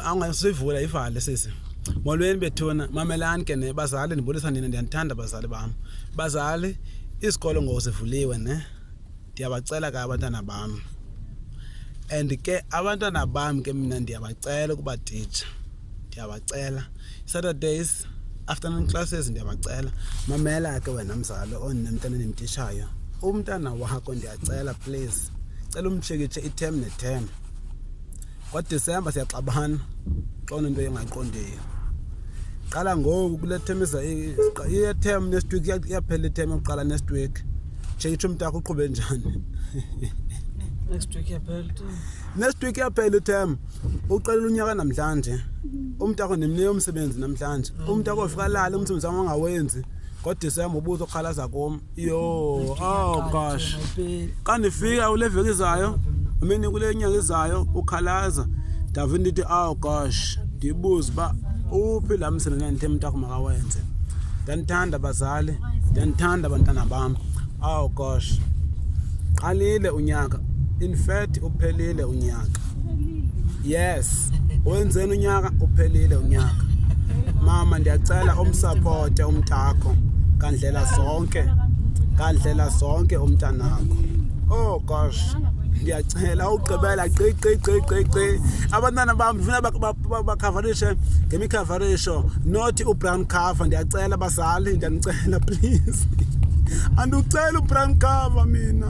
angasivula ivale sisi molweni bethuna mamelani ke ne bazali ndibulisa nina ndiyanithanda bazali bam bazali isikolo ngoku sivuliwe ne ndiyabacela ke abantwana bam and ke abantwana bam ke mina ndiyabacela ukuba titsha ndiyabacela saturdays afternoon classes ndiyabacela mamela ke wena mzali ondinemntana endimtishayo umntana wakho ndiyacela please cela umtshekitshe i-term ne-term ngodisemba siyaxabana xona into engaqondiyo qala ngoku kule term iyeterm next week iyaphela item yokuqala next week change tsho umntakho uqhube njani next week iyaphela next week iyaphela item uqalela unyaka namhlanje umntakho ndimnike umsebenzi namhlanje umntakho ufika lala umsebenzi wam angawenzi ngodisemba ubuza okhalaza kum Yo, oh gosh. Xa ndifika kule veki izayo, amini kule nyanga izayo ukhalaza. Ndave ndithi oh gosh, ndibuze uba uphi la msebenzi ndandithe mntakho makawenze. Ndandithanda bazali, ndandithanda abantwana bam. Oh gosh. Qalile unyaka. In fact uphelile unyaka. yes wenzeni unyaka uphelile unyaka mama ndiyacela umsapote umntakho ngandlela zonke ngandlela zonke umntanakho oh gosh ndiyacela ugqibela qiqiqiqiqi abantwana bam ndifuna bakhavarishe ngemikhavarisho not ubrown cover ndiyacela bazali ndiyanicela please andiwucela ubrown cover mina